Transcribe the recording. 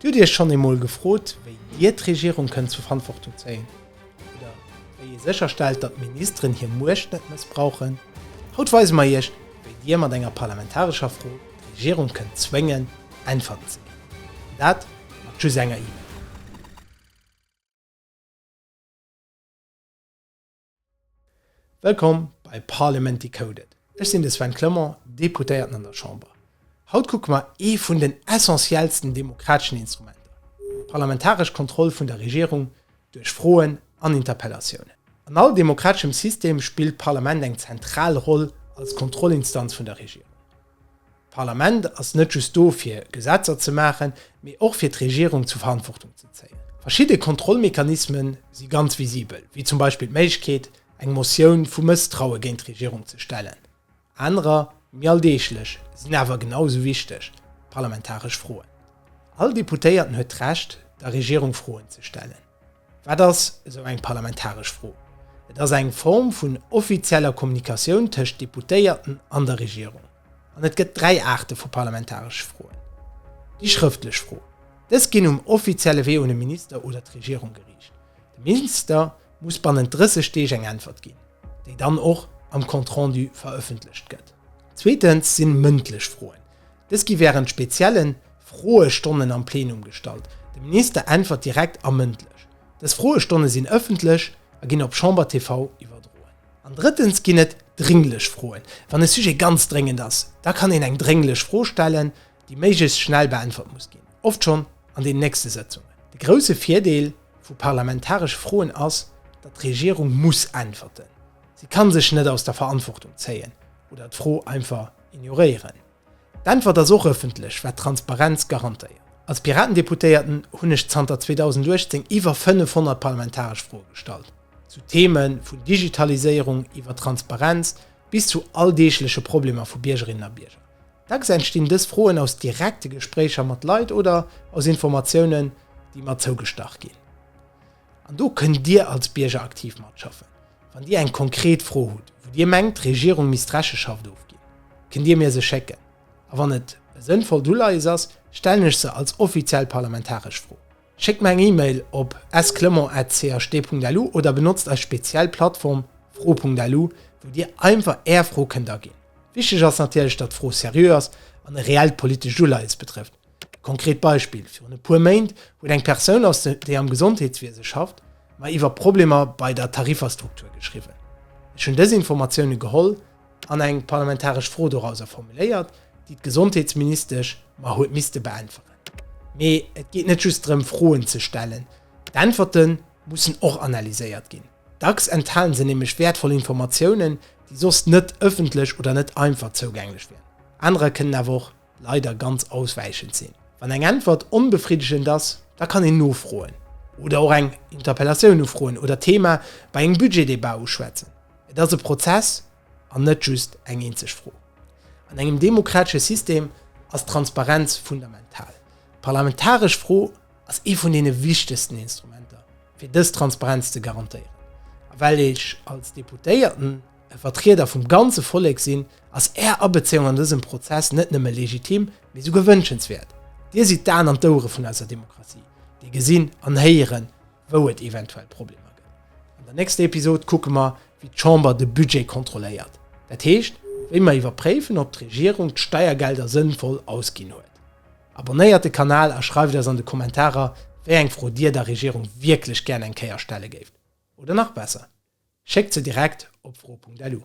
Hutt Iech schonn eemol gefrot, wéi Dir d'Regierung kënnt zur Verantwortung zéien? Oder wéi ee sécher stellt, datt d'Ministeren hir Muecht net mëssbrauchen? Haut weise mer Iech, wéi Dir mat enger parlamentarescher Fro d'Regierung kënnt zwéngen, Äntwerten ze ginn. An dat mat just enger E-Mail. Wëllkomm bei Parliament Decoded. Ech sinn de Sven Clement, Deputéierten an der Chamber. Haut kucke mer ee vun den essentiellsten demokrateschen Instrumenter, d'parlamentaresch Kontroll vun der Regierung duerch Froen an Interpellatiounen. An all demokrateschem System spillt d'Parlament eng zentral Roll als Kontrollinstanz vun der Regierung. D'Parlament ass net just do fir Gesetzer ze maachen, mee och fir d'Regierung zur Verantwortung ze zéien. Verschidde Kontrollmechanisme si ganz visibel, wéi zum Beispill d'Méiglechkeet, eng Motioun vu Mësstraue géint d'Regierung ze stellen. Anerer, méi alldeeglech, sinn awer genau esou wichteg, d'parlamentaresch Froen. All Deputéierten huet d'Recht, der Regierung Froen ze stellen. Wat ass esou eng parlamentaresch Fro? Et ass eng Form vun offizieller Kommunikatioun tëscht Deputéierten an der Regierung. An et gëtt dräi Aarte vu parlamentaresche Froen. Déi schrëftlech Fro. Dës ginn um offizielle Wee un e Minister oder d'Regierung geriicht. De Minister muss bannent 30 Deeg eng Äntwert ginn, déi dann och am Compte-rendu verëffentlecht gëtt. Zweetens sinn mëndlech Froen. Dës gi wärend spezielle Froestonnen am Plenum gestallt. De Minister äntwert direkt a mëndlech. Dës Froestonne sinn ëffentlech a ginn op Chamber TV iwwerdroen. An drëttens ginn et drénglech Froen. Wann e Sujet ganz dréngend ass, da kann een eng drénglech Fro stellen, déi méiglechst schnell beäntwert muss ginn, oft schonn an den nächste Sëtzungen. De grousse Virdeel vu parlamentaresche Froen ass, datt d'Regierung muss äntwerten. Si kann sech net aus der Verantwortung zéien oder d'Fro einfach Ignoréieren. D'Äntwert ass och ëffentlech, wat Transparenz garantéiert. Als Piratendeputéierten hunn ech zanter 2018 iwwer 500 parlamentaresch Froe gestallt, zu Theme vun Digitaliséierung iwwer Transparenz bis zu alldeegleche Problemer vu Biergerinnen a Bierger. Dacks entstinn dës Froen aus direkte Gespréicher mat Leit oder aus Informatiounen, déi mer zougestach ginn. An do kënnt Dir als Bierger aktiv matschaffen. Wann Dir eng konkret Fro hutt, wou Dir mengt, d'Regierung misst Recheschaft ofginn, kënnt Dir mir se schécken. A wann et e sënnvollt Uleies ass, stellen ech se als offiziell parlamentaresch Fro. Schéckt mer eng E-Mail op sclement.cht.lu oder benotzt eis speziell Plattform fro.lu, wou Dir einfach Är Fro kënnt aginn. Wichteg ass natierlech, datt d'Fro seriö ass an e reellt politescht Uleies betrëfft. Konkret Beispill, Virun e puer Méint huet eng Persoun aus de déi am Gesondheetswiese schafft, mer iwwer Problemer bei der Tariferstruktur geschriwwen. Ech hunn dës Informatioune geholl an eng parlamentaresch Fro dorauser formuléiert, déi d'Gesondheetsministesch mer huet misste beäntweren. Mee et geet net just drëm Froen ze stellen, d'Äntwerte mussen och analyséiert ginn. Dacks enthale se nämlech wäertvoll Informatiounen, déi soss net ëffentlech oder net einfach zougänglech wieren. Anerer kënnen awer och. leider ganz auswäichend sinn. Wann eng Äntwert onbefriddegend ass, da kann een nofroen oder och eng Interpellatioun ufroen oder d'Thema bei engem Budgetdebat uschwätzen. Et ass e Prozess an net just eng eenzeg Fro. An engem demokratesche System ass d'Transparenz fundamental. D'parlamentaresch Fro ass ee vun deene wichtegsten Instrumenter, fir dës Transparenz ze garantéieren. A well ech als Deputéierten e Vertrieder vum ganze Vollek sinn, ass Är Abezéiung an dësem Prozess net nëmme legitim, mee souguer wënschenswäert. Dir sidd d'Aen an d'Ouere vun eiser Demokratie, Dir gesinn an héieren, wou et eventuell Problemer gëtt. An der nächster Episod kucke mer, wéi d'Chamber de Budget kontrolléiert, dat heescht, wéi mer iwwerpréifen, ob d'Regierung d'Steiergelder sënnvoll ausginn huet. Abonnéiert de Kanal a schreift eis an de Kommentarer, wéi eng Fro Dir der Regierung wierklech gären eng Kéier stelle géift. Oder nach besser, schéckt se direkt op fro.lu.